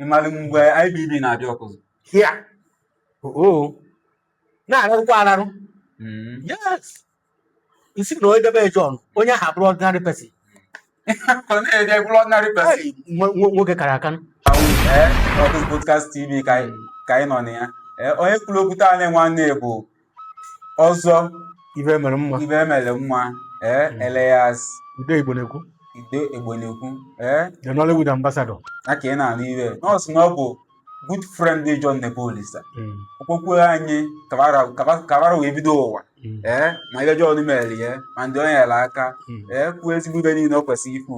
ịmalụ mgbe IBB na-abịa Ọkụzụ here oo na-ararụkwa ararụ Mm. yes ị sị na onye debe John onye ahụ abụrọ ordinary person Ọ na-ede bụrụ ordinary person. Hey, nwo- nwo- nwoke kara aka Awụ, ee, Ọkụzụ Podcast TV ka anyị ka anyị nọ na ya Ee, onye kwuru okwu taa na-enwe nwanne bụ Ọzọ ibe mere mma ibe mere mma ee hmm. alias ude igbo na-ekwu ude igbo na-ekwu ee the Nollywood ambassador na ka ị na-anụ ibe ọ sị na ọ bụ good friend dị John Nebolisa hmm. okpokwe anyị kabara wee bido ụwa hmm. ee ma ibe John mere ya ma ndị o nyere aka ee kwuo ezigbo ibe niile o kwesịrị ikwu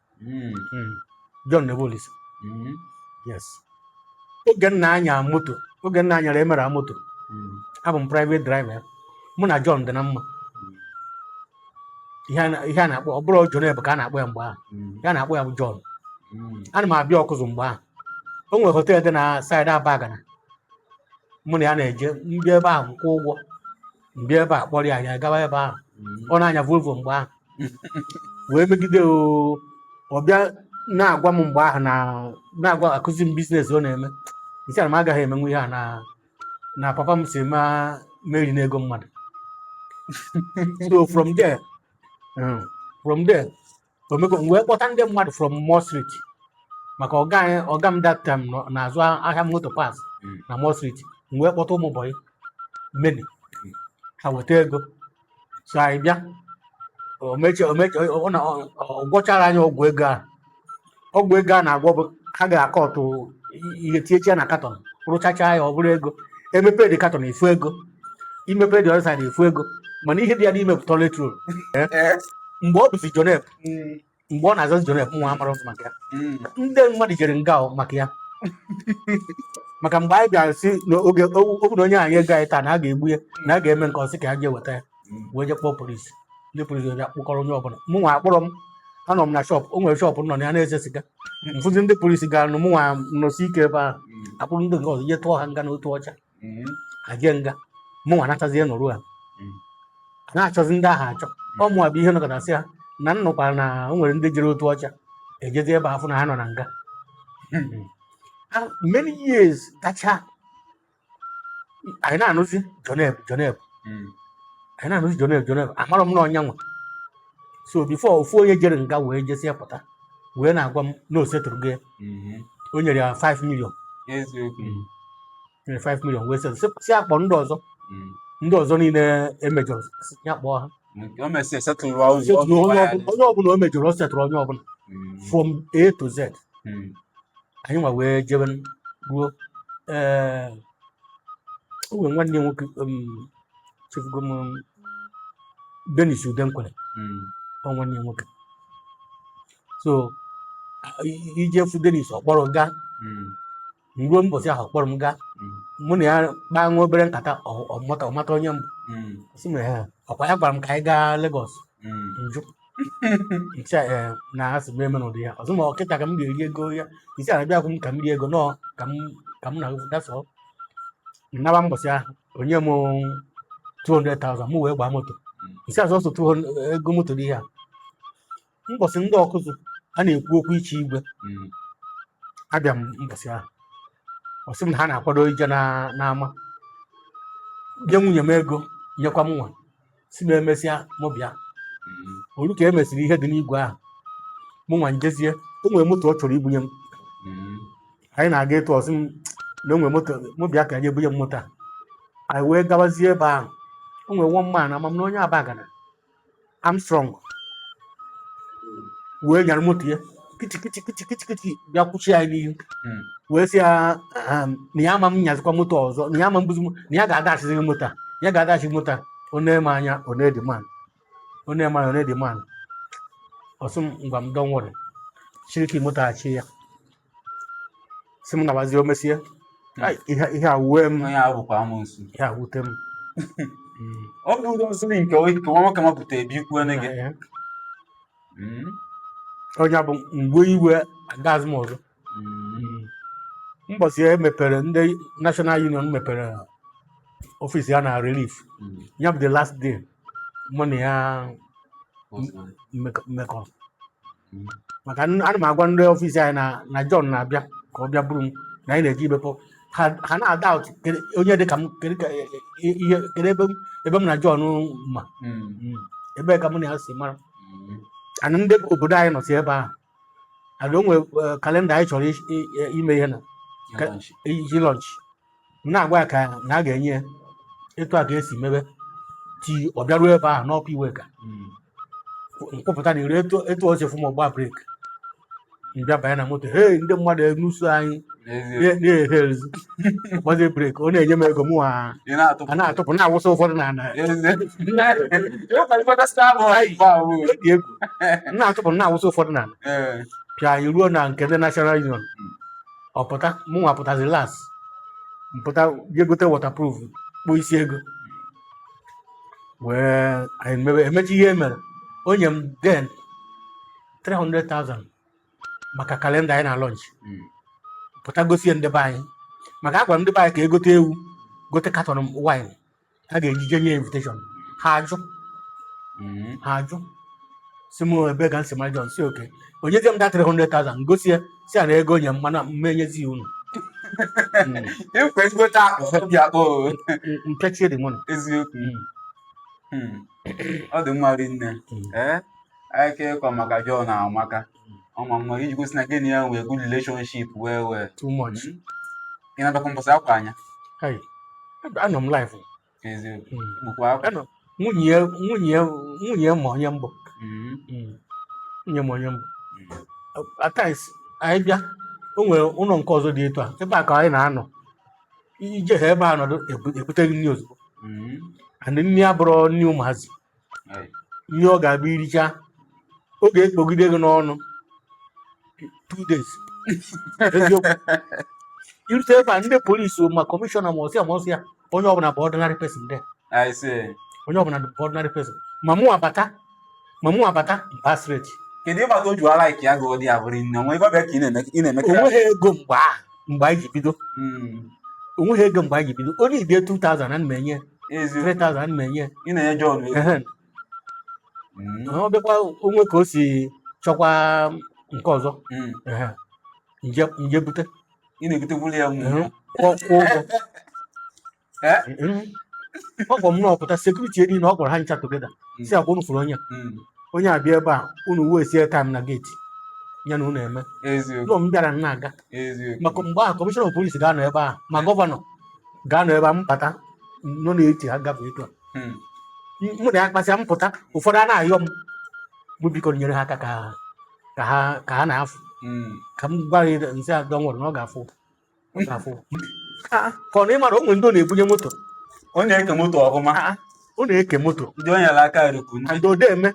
John Nebolisa yes oge m na-anya moto oge m na-anyara emere moto abụ m private driver ya mụ na John dị na mma ihe a na- ihe a na-akpọ ọ bụrọ Joneb ka a na-akpọ ya mgbe ahụ ihe a na-akpọ ya bụ John ana m abịa Ọkụzụ mgbe ahụ o nwere hotel dị na side Abagana mụ na ya na-eje m bịa ebe ahụ m kwụọ ụgwọ m bịa ebe a kpọrọ ya anyị agawa ebe ahụ mm. ọ na-anya Volvo mgbe ahụ wee megide ọ bịa na-agwa m mgbe ahụ na-agwa akụzi m business ọ na-eme m sị ya na m agaghị emenwu ihe a na na papa m sị m erina ego mmadụ so from there um, from there omego m wee kpọta ndị mmadụ from Moore Street maka ọga anyị ọga m that time nọ- na-azụ ahịa motor parts Mm. na Moore Street m wee kpọta ụmụ bọyị many ha weta ego so anyị bịa o mechaa o mechaa ọ na ọ gwọchara anyị ọgwụ ego ahụ ọgwụ ego a na-agwọ bụ ha ga-akọ ọtụ ihe tinyechi ya na katọn rụchacha ya ọ bụrụ ego e mepe the carton a fụ ego i mepe the other side a fụ ego mana ihe dị ya n'ime bụ toilet roll mgbe ọ bụzi Joneb mgbe ọ na-azazi Joneb mụwa amarọzị maka ya ndị mmadụ jere nga maka ya maka mgbe anyị bịara sị n'oge okwu na o nye anyị ego anyị taa na a ga-egbu ya na a ga-eme nke ọ sị ka ha jee weta ya wee je kpọọ polisi ndị polisi wee bịa kpụkọrọ onye ọbụla mụ nwa akpụrọ m anọ m na shọpụ o nwere shọpụ m nọ na ya na-ese siga m fụzi ndị polisi garanụ mụ nwa nọsie ike ebe ahụ a kpụrụ ndị nke ọzọ je tụọ ha nga n'Otuọcha ha jee nga mụ nwa nachazie nọrụ ha a na-achọzi ndị ahụ achọ ọ mụwa bụ ihe nọkata sị ha na m nụkwara na o nwere ndị jere Otuọcha e jezie ebe afụ na ha nọ na nga Ah, many years gacha anyị na-anụzi Joneb Joneb hmm. anyị na-anụzi Joneb Joneb amarọ m na ọ nya nwa so before ofu onye jere nga wee jesịa pụta wee na-agwa m na o settle gị hmm. o nyere ya 5 million hmm. nyere 5 million wee settle sị a kpọọ ndị ọzọ ndị ọzọ niile o mejọrọ ya kpọọ ha Nke o mesịa setụlụwa ụzọ ọ setụrụ onye ga-agba ya ọbụla onye ọbụla o mejọrọ ọ setụrụ onye ọbụla Mm, from A to Z mm. anyị nwa wee jebe ruo ee o nwere nwanne ya nwoke um, chefugo m um, Dennis Udenkwere Mm, ọ nwanne ya nwoke so a- i- ije fụ Dennis ọ kpọrọ gaa mm, ruo mbọsị ahụ kpọrọ m gaa mụ na ya kpaa nwa obere nkata ọ- ọ mata- ọ mata onye m bụ sị m "Ee, ọkwa ya gwara m ka anyị gaa Legọs m jụ ncha ee na asị m emena ụdị ya ọzọ ma ọ kịta ka m ga-eri ego ya isi a na-abịa akwụ m ka m rie ego nọọ ka m ka m na-agụ dasọ naba mbọsị ahụ o nye m 200,000 mụ wee gbaa moto isi azụ ọsọ 200 ego moto dị ya mbọsị ndị Ọkụzụ a na-ekwu okwu ichi igwe Mm. abịa m mbọsị ahụ ọ sị m na ha na-akwado ije na- n'ama nye nwunye m ego nyekwa m nwa sị m emesịa mụ bịa Mm. o ru ka e mesịrị ihe dị n'igwe ahụ mụ nwa njezie o nwere moto ọ chọrọ ibunye m Mm. anyị na-aga etu ọ sị m na o nwere moto mụ bịa ka anyị ebunye m moto a anyị wee gabazie ebe ahụ o nwere one man ama m na onye Abagana Armstrong wee nyara moto ya kichikiti kichikiti kichi bịa kwụchi ya n'ihu hmm. wee sị ya ehm, na ya ama m nyazikwa moto ọzọ na ya ama mbuzi na ya ga-adashiziri moto a ya ga-adash gị moto a onye ma anya onye dị man onye ma anya onye dị man ọ sị m ngwa m dọnwụrị chiriki moto achị ya sị m nabazie o mesịa Ai, ihe ihe a wue m onye ahụ bụkwa amụnsu ihe a wute m Mm. ọ bụ ụzọ m siri nke onye nke nwa nwoke mapụta ebe ikwu nne gị Ee. Mm. onye bụ mgbe iwe agaghịzi m ọzọ Mm. mbọsị e mepere ndị National Union mepere ọfịs ya na Relief Mm. ya bụ the last day mụ na ya Otu a. mmekọ mmekọ. maka n- ana m agwa ndị ọfịs anyị na na John na-abịa ka ọ bịa buru m na anyị na-eje imekọ ha ha na-adoubt kedu onye dị ka m kedu ka e- e- ihe kedu ebe m ebe m na John ma Mm. ebee ka mụ na ya si mara ana ndị obodo anyị nọsị ebe ahụ ana o nwe kalenda anyị chọrọ i- i- ime ihe na Ka- iji launch m na-agwa ya ka na a ga-enye ya etu a ka esi mebe ti ọ bịaruo ebe ahụ n'Upper Iweka m kwụpụta na ire etu etu o si fụ m ọ gba brek m bịa banye na moto hei ndị mmadụ enuso anyị N'ezie, na-ehe ezi gbazie brek ọ na-enye m ego mụ a na-atụpụ. a na-atụpụ na-awụsa ụfọdụ na ala N'ezie. Ịwụkwa ifeọta sị abụ ha ife ahụ. Ọ dị egwu m na-atụpụ na-awụsa ụfọdụ na ala Ee. pịa anyị ruo na nke ndị National Union ọ pụta mụnwa pụtazi last m pụta jee gote waterproof kpụọ isi ego wee anyị mewe emechi ihe e mere o nye m then 300,000 maka calendar anyị na-launch Mm. pụta gosi ya ndị be anyị maka agwara m ndị be anyị ka e gote ewu gote carton wine ha ga-eji jee nye invitation ha ajụ mm-hmm. ha ajụ sị m ebe ka m si mara John sị okay o nyezie m that 300,000 gosi ya sị ya na ego o nye m na m ma-enyezi ya unu ekwe mm. m gote akpụ obi akpụ mpechie dị mụnụ eziokwu mm. hmm. ọ dị mma rinne ee eh? ka ị kọ maka John amaka ọ ma mma iji gosi na gị na ya nwee good relationship wee wee too much hmm? ị na-adọkwa mbọsị akwa anya anọ m live eziokwu hmm. bụkwa akwa nwunye nwunye nwunye ya onye mbụ hmm. nwunye ya onye mbụ at times anyị bịa o nwere ụlọ nke ọzọ dị etu a ebe a ka anyị na-anọ ije ha ebe a nọdụ ebute gị nri ozugbo and nri abụrọ nri ụmụazị ihe ọ ga-abụ i richa ọ ga-ekpogide gị n'ọnụ two days eziokwu i rute ebe a ndị police ma commissioner ma ọsịa ma ọsịa onye ọbụla bụ ordinary person there I see. onye ọbụla bụ ordinary person ma mụ abata ma mụ abata m baa straight Kedu ịgbata o ji ala ike ya gụọ dị ya bụrụ nne nwa ebe ọ bịa ka ị na-eme ị na-eme o nweghị ego mgbe ahụ mgbe anyị ji bido Mm. o nweghị ego mgbe anyị ji bido onye ibie 2000 ana m enye Ezi. 3000 ana m enye Ị na-enye John ego. Ehe. Mm. ọ bịakwa o nwee ka o si chọkwa nke ọzọ Mm. Ehe. m jee m jee bute Ị na-egotekwuru ya mmụọ. Ehe. kwụọ kwụọ ụgwọ Eh? ọ kpọ m na ọ pụta security area na ọ kpọrọ ha ncha together Mm. sị ọkwa unu fụrụ onye a. Mm. onye a bịa ebe a unu waste ya time na gate ya na unu eme Eziokwu. ụlọ m bịara m na-aga Eziokwu. maka mgbe ahụ commissioner of police ga-anọ ebe ahụ ma governor ga-anọ ebe a m bata nọ n'etiti ha gafee etu a Mm. M- mụ na ya kpasịa m pụta ụfọdụ a na-ayọ m bụ biko nyere ha aka ka ha ka ha ka ha na-afụ Mm. ka m gwa ya m sị ya don't worry na ọ ga-afụ ka ọ na ị mara o nwe ndị ọ na-ebunye moto ọ na-eke moto ọfụma ọ na-eke moto ndị onye ala aka rikwu ndị odeme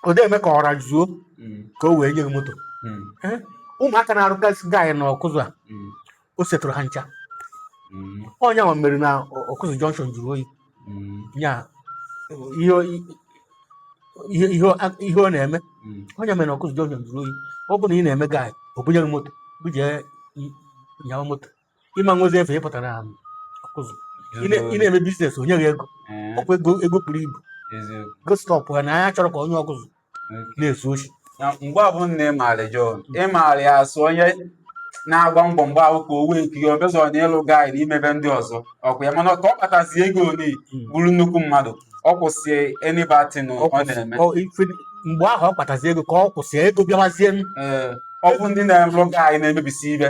odeme ka ọra zuo hmm. ka o wee nye gị moto hmm. eh, ụmụaka na-arụgasị guy na Ọkụzụ a hmm. o setụrụ ha ncha ọ ya nwa mere na Ọkụzụ junction jụrụ oyi mm. ya ihe ihe ihe ọ na-eme mm. ọ ya mere Ọkụzụ junction jụrụ oyi ọ bụrụ na ị na-eme guy o bunye gị moto buje nyawa moto ị ma nwezi efe ị pụtara um, Ọkụzụ ị na-eme business o nye gị ego eh. ọkwa ego ego buru ibu gị stọpụ ya na ya achọrọ ka onye Ọkụzụ na-ezu oshi na mgbe ọbụla na ịmaara John ịmaara ya as onye na-agba mbọ mgbe ahụ ka o wee nkiri ọbịazọ na ịlụ gaị na ime ive ndị ọzọ ọkwa ya mana ka ọ kpatazi ego o wee bụrụ nnukwu mmadụ ọ kwụsị any bad thing ọ na-eme Ọ- ife- mgbe ahụ ọ kpatazi ego ka ọ kwụsị ego bịawazie m Ee, ọ bụ ndị na-alụ gaị na-emebisi ive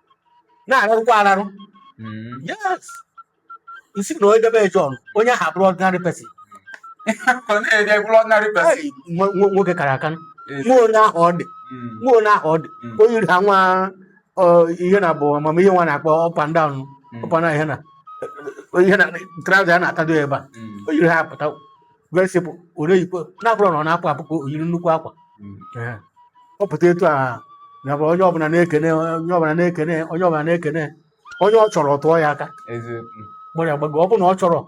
na-ararụkwa ararụ Mm. yes n'isi na onye debe John onye ahụ abụrọ ordinary person Ọ na-ede bụrụ ordinary person. Hey, nwo- nwo- nwoke kara aka Yes. nwa onye ahụ ọ dị Mm. nwa onye ahụ ọ dị Mm. o yiri ha nwa ọ, ihe na bụ ama ihe nwa a na-akpọ up and down Mm. up and down ihe na ihe na trouser ya na-atado ya ebe a Mm. o yiri ha apụta very simple ọ na-eyikwe na ọ bụrụ na ọ na-apụ apụ ka o yiri nnukwu akwa Mm. Ee. ọ pụta etu a ya bụ onye ọbụla na-ekene onye ọbụla na-ekene onye ọbụla na-ekene onye ọ chọrọ ọ tụọ ya aka eziokwu gbara ya gbago ọ bụ na ọ chọrọ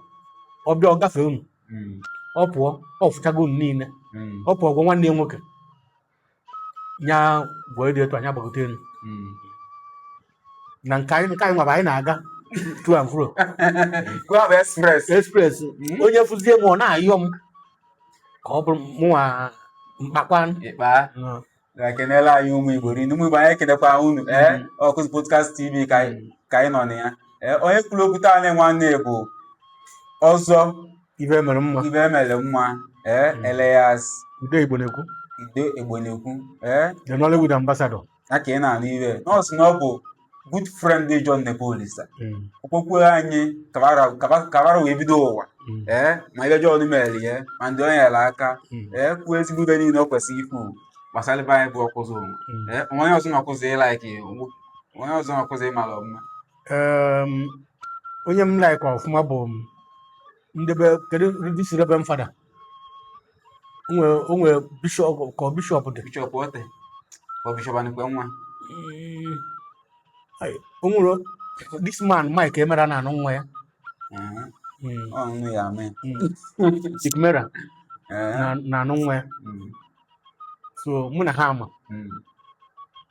ọ bịa ọ gafee unu Mm. ọ pụọ ọ fụchago unu niile Mm. ọ pụọ gwa nwanne ya nwoke nya gwọọ dị etu anyị agbagote elu Mm. na nke anyị nke anyị nwa bụ anyị na-aga to and fro Go have express. express Mm. onye fụzie m ọ na-ayọ m ka ọ bụrụ mụnwa mkpakwa Ịkpa. kenelụ anyị ụmụ igbo rinne ụmụ igbo anyị ekenekwa unu ee Mm. Ọkụzụ podcast tv ka anyị ka anyị nọ na ya ee onye kwuru okwu taa na nwanne bụ ọzọ ive mere mma ive mere mma ee hmm. alias ude igbo na-ekwu ude igbo na-ekwu ee the nollywood ambassador ya ka ị na-anụ ive n'isi na ọ bụ good friend dị John Nebolisa hmm. okpokwu anyị ka va ra wee bido ụwa hmm. ee ma ive John mere ya ma ndị o nyere aka ee kwuo ezigbo ive niile ọ kwesịrị ikwu gbasara be anyị bụ ọkụzụ o nwee onye ọzọ n'Ọkụzụ ị like onye ọzọ n'Ọkụzụ ị mara ọfụma um, onye m like ọfụma bụ ndị be kedu this reverend father o nwere o nwere bishop ka ọ bishop dị bishop Oteh ọ bishop Anikwenwa Mm, ai, o nwere this man Mike Emerah na nwunye ya Ee, Mm, ọ nne ya amị mm. Mike Emerah Ee, na na nwunye ya mm. so mụ na ha ama Mm.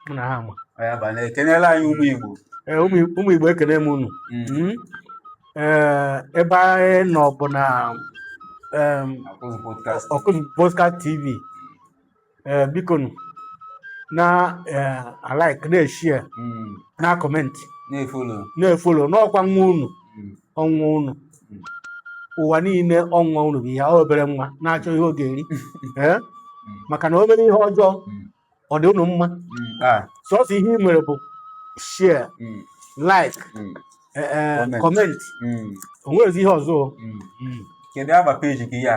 mụ na ha ama Ọ ya bụ na kenelụ anyị ụmụ Igbo. Ee, ụmụ ụmụ igbo ekene m unu Mm. Mm. Ee, ebe anyị nọ bụ na em, Ọkụzụ podcast. ọkụzụ podcast tv Ee, biko nụ, na ee, alike na-eshare Mm. na-acomment Na-efolo. na-efolo na ọkwa nwa unu Mm. ọ nwa unu hmm. ụwa niile ọ nwa unu bụ ihe ahụ obere nwa na-achọ ihe ọ ga-eri eh? hmm. maka na o mere ihe ọjọọ hmm. ọ dị unu mma ah. sọsọ ihe ị nwere bụ share like eh, eh, comment o nwerezi ihe ọzọ kedu ava page gị ya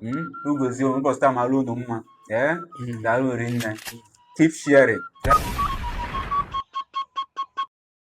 hmm? ngọzi ụbọchị taa mara unu mma ee eh? hmm. daalụ rinne keep sharing